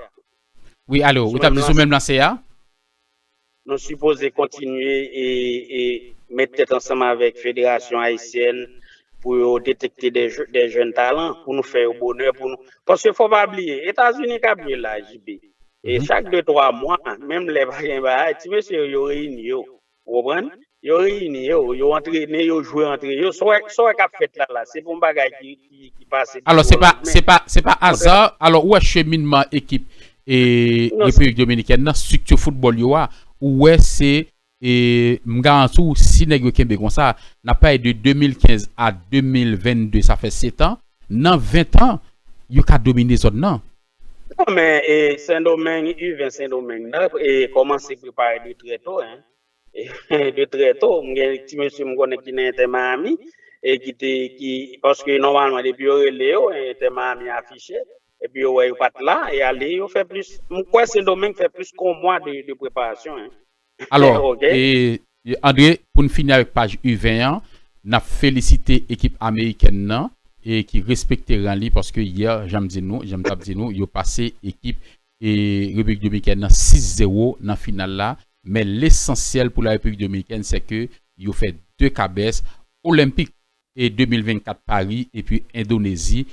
wi alo ou tap di sou menm lanse a. Nou sipoze kontinye met tèt ansanm avèk federasyon ayisyèn pou yo detekte de jèn talan pou nou fè yo bonè pou nou. Paske fò pa bliye, Etazini k ap jwe la JB, chak de twa mwa, menm lè pa gen bagay, ti mesye yo, yo reyini yo. Ou konprann? Yo reyini yo, yo antrene, yo jwe antre yo. Sa w wè k ap fèt la la, se pa yon bagay ki ki pase du jour au lendemain. Se pa aza, alò ou wè cheminman ekip Repiblik Dominikèn nan, strikti foutbòl yo a, ou wè se, m garanti w, si nèg yo kenbe konsa, n ap pale de 2015 a 2022, sa fè setan, nan ventan, yo ka domine zòn nan. Non men, Sendomeng, U20 Sendomeng nan, kòmanse prepare de trè to. De trè to, m gen ti mesye m konnen ki nan Inter Miami e ki te, ki, paske nòmalman depi yo rele yo, Inter Miami afiche, epi yo wè yo pa t la, e ale yo fè plis, m kwè Sendomeng fè plis ke yon mwa de preparasyon. Alò, André, pou n fini avèk paj U20 an, n ap felisite ekip amerikèn nan e ki respekte ran li paske yè, jan m di nou, jan m t ap di nou, yo pase ekip Repiblik Dominikèn nan 6 zero nan final la, men lesansyèl pou la Repiblik Dominikèn sè ke yo fè 2 kabès, Olenpik 2024 Pari epi Endonezi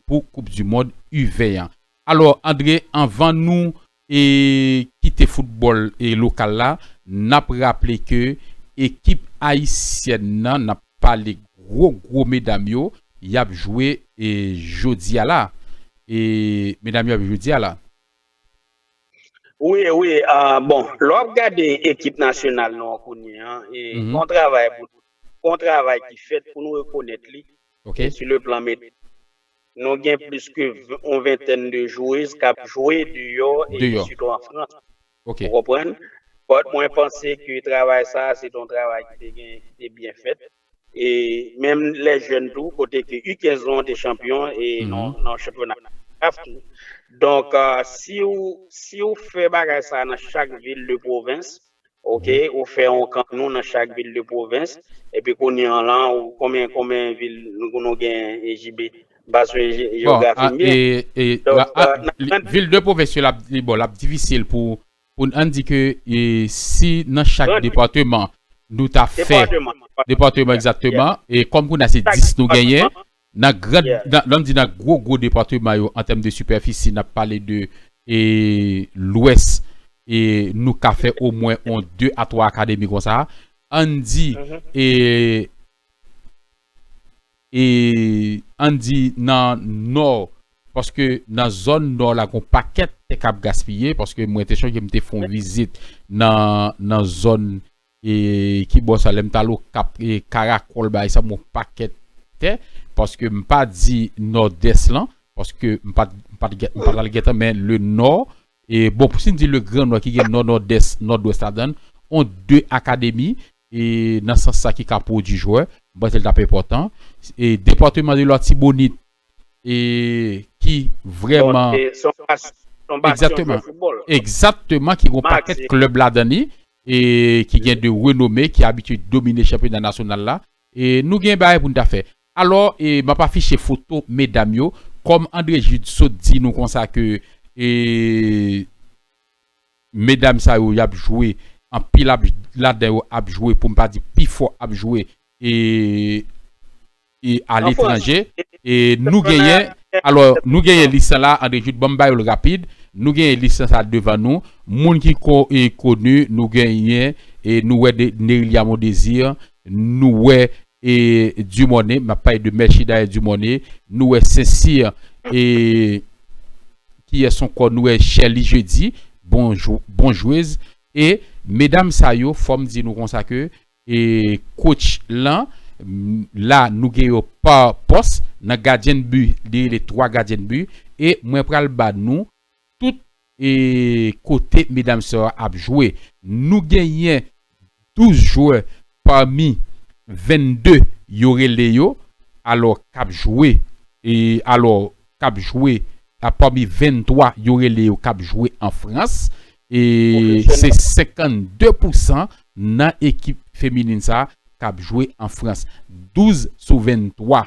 pou koup du mond U20 an. Alò Andre anvan nou kite foutbòl lokal la, nap raple ke ekip ayisyèn nan, nap pale gwo gwo medam yo, yap jwe jodi a la, e medam yo ap jwe dia la. Wi wi bon lè wap gade ekip nasyonal nou an kounye an e gon travay pou gon travay ki fèt pou nou rekonèt li e sou le plan mete nou gen plis ke yon ventèn de jwez kap jwe deyò e sitou an frans ou konprann mwen panse ke travay sa se te yon travay ki te gen ki te byen fèt E menm lè jèn tou kote ke u 15 lan te chanpyon e nan chanpyona CAF tou. Donk si w si w fè bagay sa nan chak vil de pwovens ok ou fè yon kan nou nan chak vil de pwovens epi kounye an lan konbyen konbyen vil nou gen JB pa swiv jewografi m byen. Bon e e vil de pwovens yo lap li bon lap difisil pou pou ann di ke si nan chak depateman nou ta fè, depateman egzakteman, e kòm kounye a se 10 nou genyen, nan gran, lè m di nan gwo gwo depateman yo an tèm de sipèfisi n ap pale de lwès e nou ka fè omwen on 2 a 3 akademi konsa, ann di e. e ann di nan nò paske nan zòn nò la gon pakèt tè kap gaspiye paske mwen te chonje m te fon vizit nan zòn e ki bò sa lèm tal okap e karakòl bagay sa bon pakèt tè paske m pa di nò dès lan paske m pat m pat m pat al gentan men le nò e bon si n di le gran nò ki gen nò nò dès nò dwès ladann on de akademi e nan sans sa ki ka pwodui jwè, m panse l t ap enpòtan. E departeman de Latibonit e ki vrèman Donk e se yon bas se yon basyon jwè Egzakteman. foutbòl. Egzakteman ki gen yon Max pakèt e klèb ladan li e ki gen de renome ki abitye domine chanpyona nasyonal la e nou gen bagay pou n ta fè. Alò e m ap afiche foto medam yo kòm André Jude sot di nou konsa ke e Medam sa yo yap jwe anpil ap ladan yo ap jwe poum pa di pi fò ap jwe e e a letranje e nou genyen alò nou genyen lis lan la André Jude banm ba yo l rapid nou genyen lis lan sa devan nou moun ki ko e koni nou genyen e nou wè de Nerilia Mondésir nou wè e Dumornay map pale de Merchida et Dumornay nou wè Sincir e kiyès ankò nou wè Sherlie Jeudi bon bon jwez e medam sa yo fòm di nou konsa ke e coach lan la nou gen yo pa pòs nan gadyen de but li rele 3 gadyen de but e mwen pral ba nou. tout kote medam sa yo ap jwe. Nou genyen 12 jwè pami 22 yo rele yo alò k ap jwe alò k ap jwe pami 23 yo rele yo k ap jwe an Frans e se 52 pousan nan ekip feminin sa k ap jwe an Frans 12 sou 23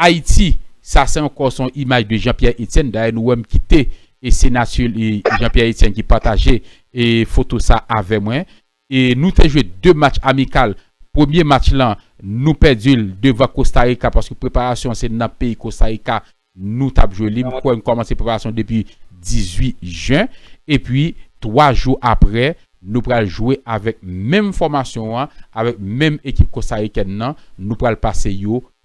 Ayiti, sa se ankò se yon imaj de Jean Pierre Etienne, dayè nou wèm kite e senati Jean Pierre Etienne ki pataje e foto sa avè mwen e nou te jwe 2 match amikal, premye match lan nou pèdi l devan Costa Rica paske preparasyon an se nan peyi Costa Rica nou tap jwe li, m kwè nou kòmanse preparasyon an depi 18 jen epi 3 jou aprè nou pral jwe avèk menm fòmasyon an avèk menm ekip Costa Ricaine nan nou pral pase yo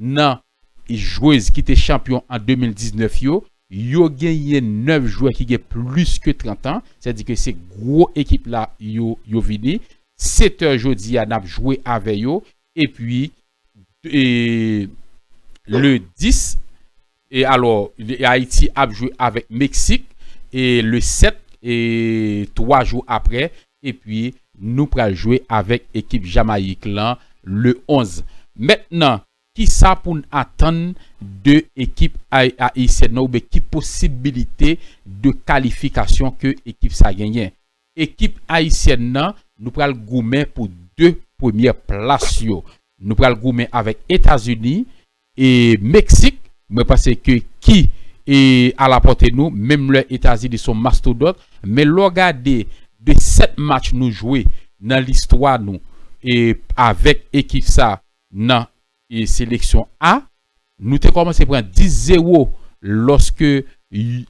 Nan jwez ki te chanpyon an 2019 yo, yo genyen 9 jwè ki gen plis ke 30 an, sa di ke se gwo ekip la yo vini. Setter jodi a nap jwe avè yo, epi le 10. E alò Ayiti ap jwe avèk Meksik e le 7 e 3 jou aprè epi nou pral jwe avèk ekip Jamayik lan le 11. Mentnan kisa poun atann de ekip Ayisyèn nan oubyen ki posibilite de kalifikasyon ke ekip sa genyen? Ekip Ayisyèn nan nou pral goumen pou 2 premyè plas yo. Nou pral goumen avèk Etazini E meksik mwen panse ke ki e alapòte nou menm lè etazini son mastodòt men lè w gade de 7 match nou jwe nan listwa nou e avèk ekip sa nan e seleksyon a nou te kòmanse pran 10 zewo lòske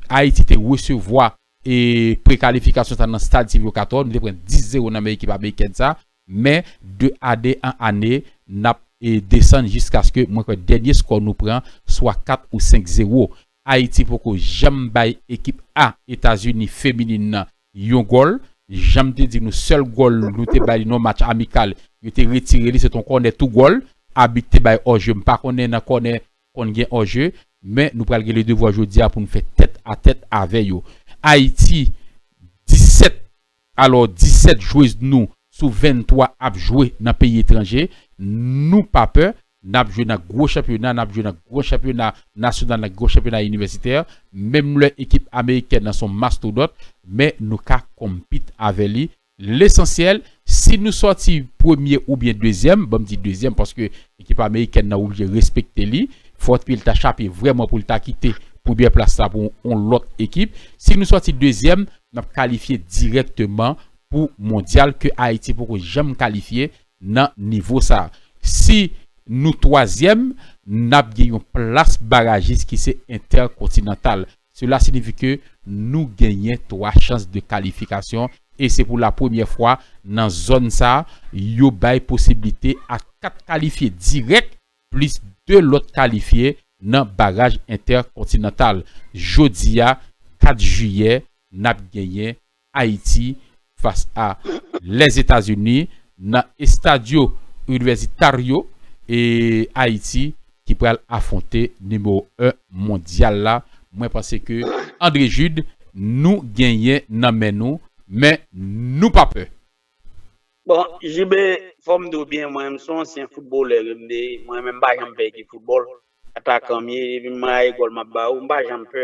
ayiti te resevwa E prekalifikasyon sa nan stad Sylvio Cator, nou te pran 10 zero nan men ekip amerikèn sa, men de ane an ane nap desann jiskaske mwen kwè dènye skò nou pran swa 4 ou 5 zero. Ayiti poko janm bay ekip A Etazini feminin nan yon gòl, janm te di nou sèl gòl nou te bay li nan yon match amikal yo te retire li se te yon kònè tou gòl, abit te bay òje m pa konnen nan kònè konn gen hors jeu men nou pral gen le devwa jodi a pou nou fè tèt a tèt avè yo. Ayiti 17 alò 17 jwez nou sou 23 ap jwe nan peyi etranje nou pa pè nap jwe nan gwo chanpyona nap jwe nan gwo chanpyona nasyonal nan gwo chanpyona inivèsitè menm lè ekip amerikèn nan son mastodòt men nou ka konpit avè li Lesansyèl, si nou sòti premye oubyen dezyèm, banm di dezyèm paske ekip amerikèn nan oblije respekte li, fò dpi l ta chape vrèman pou l ta kite premyè plas la pou yon lòt ekip. Si nou sòti dezyèm, n ap kalifye dirèkteman pou mondyal ke Ayiti poko janm kalifye nan nivo sa. Si nou twazyèm, n ap gen yon plas barajis ki se entèkontinantal. Sela sinifi ke nou genyen 3 chans de kalifikasyon e se pou la premyè fwa nan zòn sa yo bay posiblite a 4 kalifye dirèk plis 2 lòt kalifye nan baraj entèkontinantal. Jodi a 4 jiyè nap genyen Ayiti fas a Lèzetazini nan Estadio Universitario e Ayiti ki pral afwonte nimewo 1 mondyal la. Mwen panse ke Andre Jude nou genyen nan men nou men nou pa pè. Bon JB, fò m di w byen mwen menm m son ansyen foutbolè ke m te, mwen menm m pa janm pè ekip foutbòl. Atakan m ye, depi m maye gòl m ap ba ou, m pa janm pè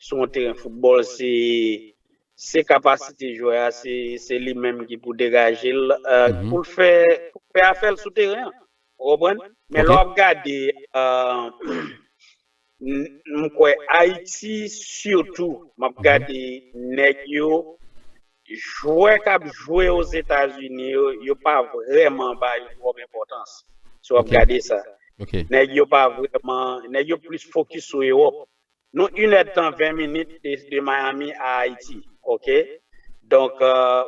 sou yon teren foutbòl. Se kapasite jwè a, se li menm ki pou degaje l pou l fè afè l sou teren an. Ou konprann? Men lè w ap gade, m kwè Ayiti sitou, m ap gade nèg yo. Jwè k ap jwe Ozetazini yo, yo pa vrèman ba yo twòp enpòtans, si w ap gade sa. Nèg yo pa vrèman, nèg yo plis fokis sou Ewòp. Nou inèdtan ven minit de Miami a Ayiti, oke. Donk,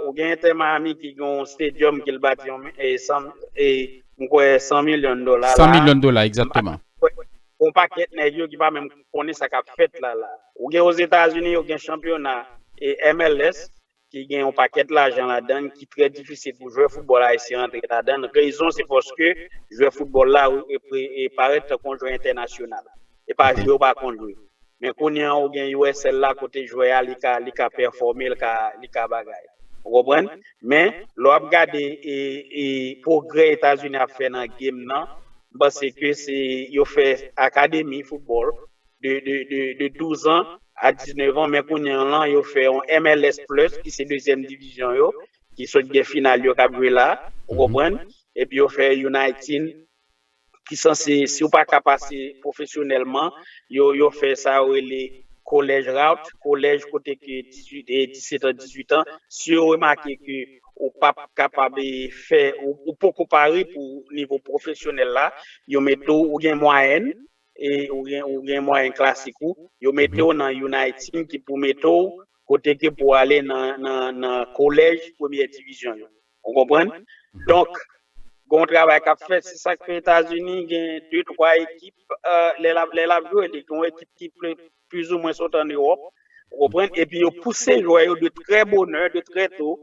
ou gen Inter Miami ki gen yon stadium ke l bati yon m kwè 100 milyon dola la. 100 milyon dola, egzatteman. Gon pakèt nèg yo ki pa menm. konnen sa kap fèt la la. Ou gen Ozetazini yo gen chanpyona MLS ki gen yon pakèt lajan ladann ki trè difisil pou jwè foutbòl ayisyen rantre ladann, rezon se paske jwè foutbòl la parèt tankou yon jwè entènasyonal. E pa jwe ou pa konn jwe. Men kounye an ou gen USL la kote jwè a li ka pèfòme, li ka bagay. Ou konprann? Men, lè w ap gade pwogrè Etazini ap fè nan game nan, m panse ke se yo fè akademi foutbòl de douzan a diznevan, men kounye an lan yo fè yon MLS Plus ki se dezyèm divizyon yo, ki sot gen final yo k ap jwe la, ou konprann, epi yo fè U19. ki sanse, si ou pa ka pase pwofesyonèlman, yo fè sa yo rele college route, kolèj kote ke 18 e 17 an, 18 an, si yo remake ke ou pap kapab fè, ou poko pare pou nivo pwofesyonèl la, yo mete ou, ou gen mwayèn, ou gen mwayèn klasik ou, yo mete ou nan yon nan tim ki pou mete ou kote ke pou ale nan kolèj premyè divizyon yo. Ou konprann? Donk, gen yon travay k ap fèt. Se sa k fè Etazini gen de twa ekip lè l ap jwe. Li gen yon ekip ki plizoumwen sot ann Ewòp. Ou konprann? Epi yo pouse jwè yo de trè bonè, de trè to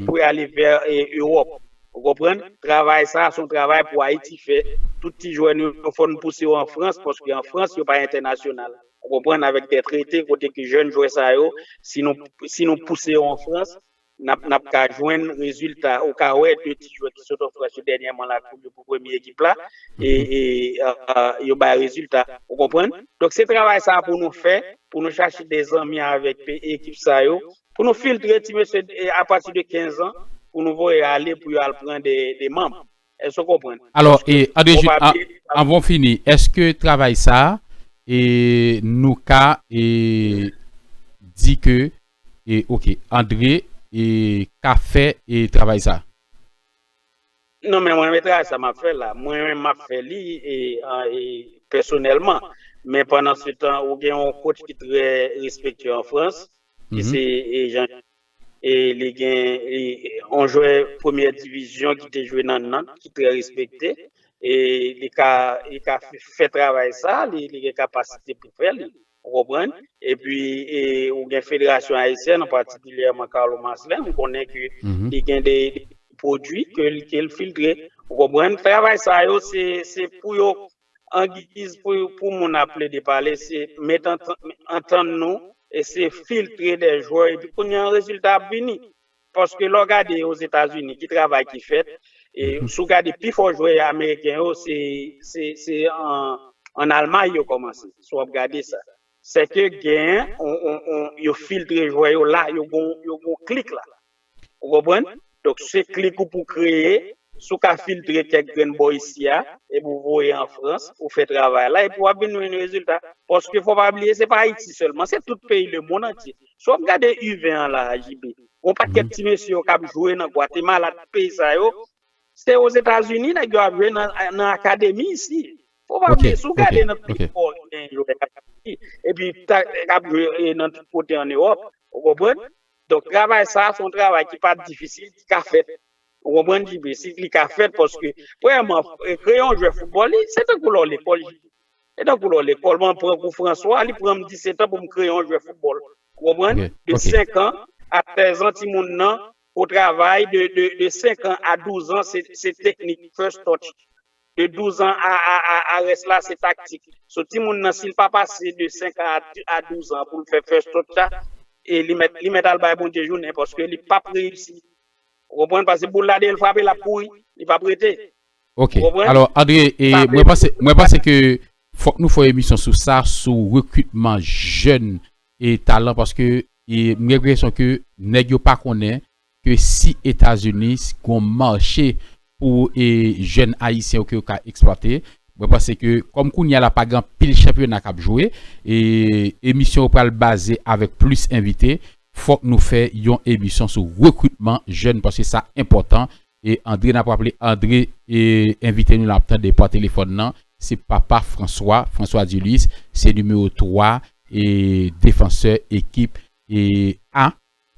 pou y ale vè Ewòp. Ou konprann? Travay sa a se yon travay pou Ayiti fè. Tout ti jwè nou yo, fò n pouse yo an Frans paske an Frans yo pa entènasyonal. Ou konprann? Avèk dè trete kote ke jèn jwè sa yo, si nou pouse yo an Frans, N ap ka jwenn rezilta ou ka wè 2 ti jwè ki sot an Frans yo dènyèman la pou yo pou premye ekip la e yo bay rezilta ou konprann. Donk se travay sa pou nou fè pou nou chache de zanmi avèk ekip sa yo pou nou filtre ti mesye apati de 15 an pou nou voye ale pou yo al pran de manb. Èske w konprann? Alò, e, André Jude, an, anvan w fini, èske travay sa a, e, nou ka, e, di ke, e, ok, André, e, ka fè, e, travay sa a? Non, men mwen menm travay sa a m ap fè la, mwen menm m ap fè li, e, an, e, pèsonèlman. Men pandansetan, ou gen yon coach ki trè respektye an Frans, ki se, e, Jean-Jacques E li gen yon jwè premyè divizyon ki te jwe nan Nantes ki trè respekte. E li ka fè travay sa, li gen kapasite pou fè li. Ou konprann? E pi ou gen federasyon ayisyèn an patikilyèman Carlo Marcelin, m konnen ke li gen de pwodui ke l filtre. Ou konprann? Travay sa yo se pou yo angigiz pou moun ap plede pale se met antann nou e se filtre de jwè epi kounye an rezilta ap vini paske lè w gade ozetazini ki travay ki fèt e si w gade pi fò jwè ameriken yo se an almay yo kòmanse si w ap gade sa sèke gen yo filtre jwè yo la yo gon klik la. Ou konprann? Donk se klik ou pou kreye, si w ka filtre kèk grenn bò isi a, epi w voye an Frans, ou fè travay la, epi w ap vin jwenn rezilta. Paske fò w pa bliye se pa Ayiti sèlman, se tout peyi lemonn antye. Si w ap gade U20 an la a JB, gon pakèt ti mesye yo k ap jwe nan Gwatemala, tout peyi sa yo, se Ozetazini nèg yo ap jwe nan akademi isi. Fò w pa bliye, si w gade nan tout espò ki gen jwè Ayiti, epi k ap jwe nan tout kote an Ewòp, ou konprann? Donk travay sa a se yon travay ki pa difisil, ki ka fèt. Ou konprann JB? Li ka fèt paske, premyèman, kreye yon jwè foutbòl, se tankou lè w lekòl JB. Se tankou lè w lekòl. Mwen pran kou Franswa, li pran m disetan pou m kreye yon jwè foutbòl. Ou konprann? De senkan a sèzan timoun nan pou travay, de senkan a douzan se teknik, first touch. de 12 ans a a rès la se taktik so timoun nan sil pa pase de 5 ans a 12 ans poul fè first touch la li mèt li mèt al bay Bondye jounen paske li pap reyisi ou konprann paske boul la deyèl frape lap kouri li pap rete ok alò Andre mwen panse mwen panse ke fòk nou fè emisyon sou sa sou rekritman jèn e talan paske mwen gen enpresyon ke nèg yo pa konnen ke si etazini si gon marche pou e jèn ayisyen yo ke yo ka eksplwate mwen panse ke kòm kounya la pa gen anpil chanpyona kap jwe e emisyon yo pral baze avèk plis envite fòk nou fè yon emisyon sou rekritman jèn paske sa enpòtan e andre nap raple andre e envite nou lan ap tande pa telefòn lan se papa franswa franswa dilis se nimewo 3 e defansè ekip e a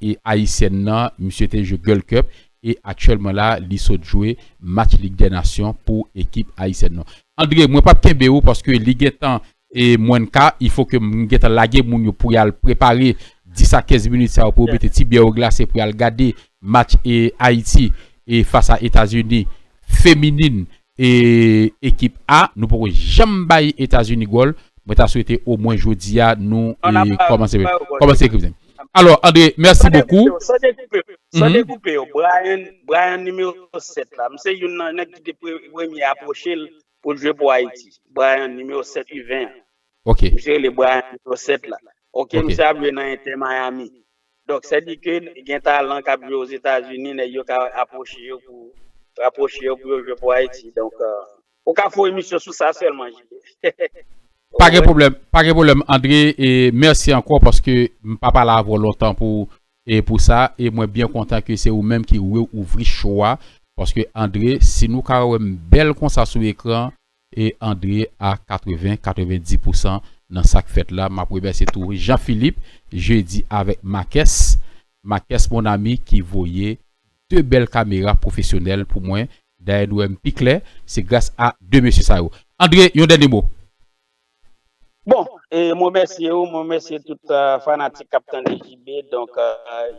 E ayisyèn nan misye te jwe Gold Cup e aktyèlman la li sot jwe match Lig dè Nasyon pou ekip ayisyèn nan. Andre mwen pap kenbe ou paske li gentan e mwenn ka il fo ke m gentan lage moun yo pou yal prepare 10 a 15 minit sa yo pou yo mete ti byè yo glase pou yal gade match e Ayiti e fas a Etazini feminin E ekip A nou poko janm bay Etazini gòl mwen ta swete o mwen jodi a nou kòmanse ekri vizyon. Alò Andre mèsi bokou. San dekoupe yo san dekoupe yo Bryan nimewo 7 la m se youn nan nèg ki te premye apwoche l pou l jwe pou Ayiti Bryan nimewo 7 U20 an misye rele Bryan nimewo 7 la ok misye ap jwe nan Inter Miami Donk sè Dikil gen talan kap jwe ozetazini nèg yo ka apwoche yo pou rapwoche yo pou yo jwe pou Ayiti donk ou ka fon emisyon sou sa sèlman JB Pa gen pwoblèm pa gen pwoblèm André e mèsi ankò paske m pa pale avè w lontan pou e pou sa e mwen byen kontan ke se ou menm ki reouvri show a paske André si nou ka wè m bèl konsa sou ekran e André a 80 90 pousan nan sak fèt la map remèsye tou Jean Philippe Jeudi avèk Makès Makès mon ami ki voye 2 bèl kamera pwofesyonèl pou mwen dayè nou wèm pi klè se gras a 2 mesye sa yo André yon dènye mo. Bon, e m remèsye ou, m remèsye tout fanatik k ap tande JB. Donk,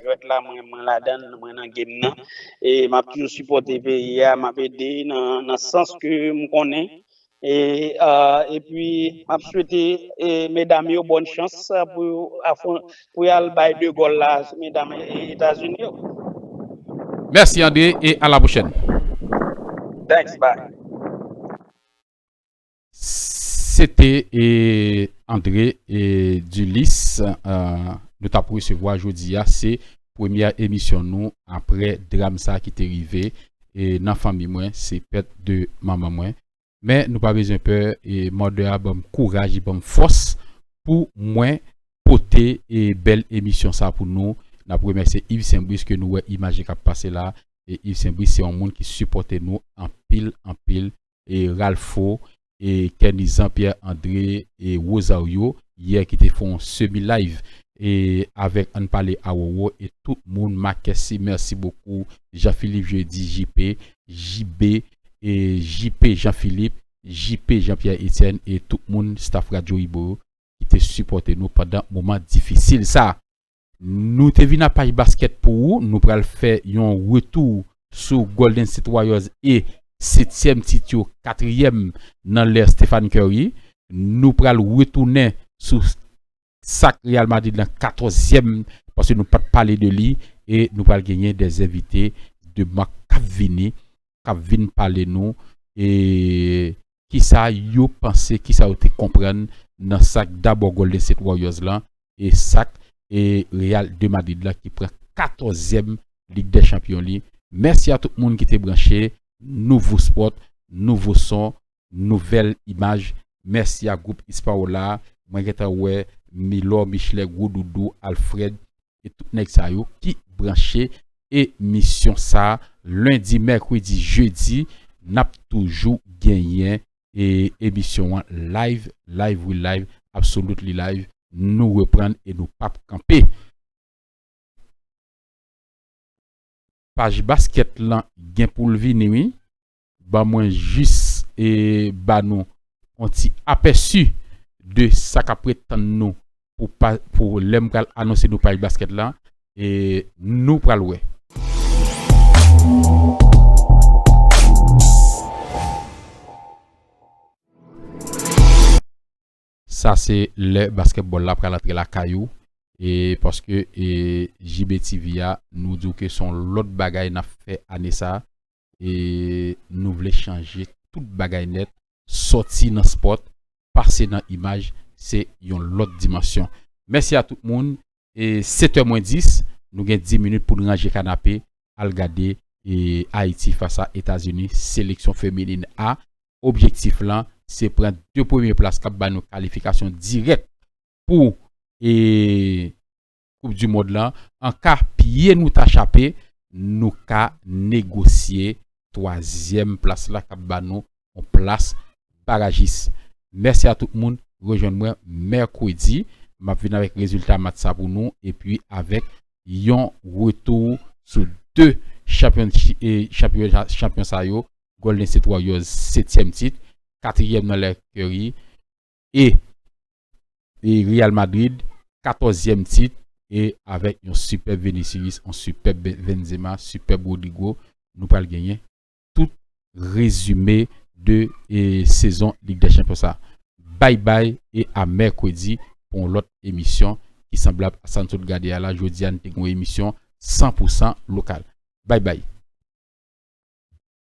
jwèt la mwen ladan l, mwen nan game nan. E m ap toujou sipòte peyi a, m ap ede nan sans ke m konnen. E epi, m ap swete medam yo bòn chans pou y al bay de gòl la sou medam Etazini yo. Mèsi André e alapwochèn. Thanks, bye. Se te André Dulis nou tap resevwa jodi a se premyè emisyon nou apre dram sa ki te rive nan fanmi mwen se pèt de manman mwen men nou pa bezwen pè e mòdè a banm kouraj e banm fòs pou mwen pote e bèl emisyon sa pou nou nap remèsye Yves Saint Brice ke nou wè imaj li kap pase la e Yves Saint Brice se yon moun ki sipòte nou anpil anpil Ralpho, Kenny Jean Pierre André e Rosario yè ki te fè yon semi live avèk ann pale a Roro e tout moun Makesse merci beaucoup Jean Philippe Jeudi JP JB JP Jean Philippe JP Jean Pierre Etienne e tout moun staff Radio Ibo yo ki te sipòte nou pandan moman difisil sa. Nou te vin a paj basket pou ou, nou pral fè yon retou sou Golden State Warriors e setyèm tit yo katriyèm nan lè Stephen Curry. Nou pral retounen sou sak Real Madrid lan katòzyèm paske nou pat pale de li e nou pral genyen de envite de mak kap vini kap vin pale nou e kisa yo panse, kisa yo te konprann nan sak dabò Golden State Warriors lan e sak e Real de Madrid lan ki pran 14 zièm Lig dè Chanpyon li. Mèsi a tout moun ki te branche Nouvo Sport, Nouvo Son, Nouvèl Imaj. Mèsi a Gwoup Ispawola a, mwen gentan wè Milor, Michelet, Gwo Doudou, Alfred, e tout nèg sa yo ki branche e misyon sa lundi mercredi jeudi nap toujou genyen e emisyon an live live wi live absolutely live nou reprann e nou pap kanpe. Paj basket lan gen poul vini wi. Ban mwen jis ba nou on ti apèsi de sa kap ret tann nou pou lè m pral anonse nou paj baskèt la nou pral wè. Sa se lè baskètbòl la pral antre lakay ou paske JBTV a nou di w ke son lòt bagay nap fè ane sa e nou vle chanje tout bagay nèt sòti nan sport pase nan imaj se yon lòt dimansyon mèsi a tout moun e 7 è mwen 10 nou gen 10 minit poun ranje kanape al gade e ayiti fas a etazini seleksyon feminin a objektif lan se pran 2 premye plas kap ba nou kalifikasyon dirèk pou e. koup du mond lan an ka pye nou ta chape nou ka negosye twazyèm plas la kap ba nou yon plas barajis mèsi a tout moun rejwenn mwen mèkredi map vin avèk rezilta match sa pou nou epi avèk yon retou sou 2 chanpyon sa yo Golden State Warriors setyèm tit katriyèm nan lè Curry e Real Madrid 14 zièm tit e avèk yon sipèb Vinicius yon sipèb Benzema sipèb Rodrygo nou pral genyen tout rezime de sezon lig dè chanpyon sa bay bay e a mèkredi pou yon lòt emisyon ki sanblab a sa n sot gade a la jodi a n te gen yon emisyon 100 pou 100 lokal bay bay.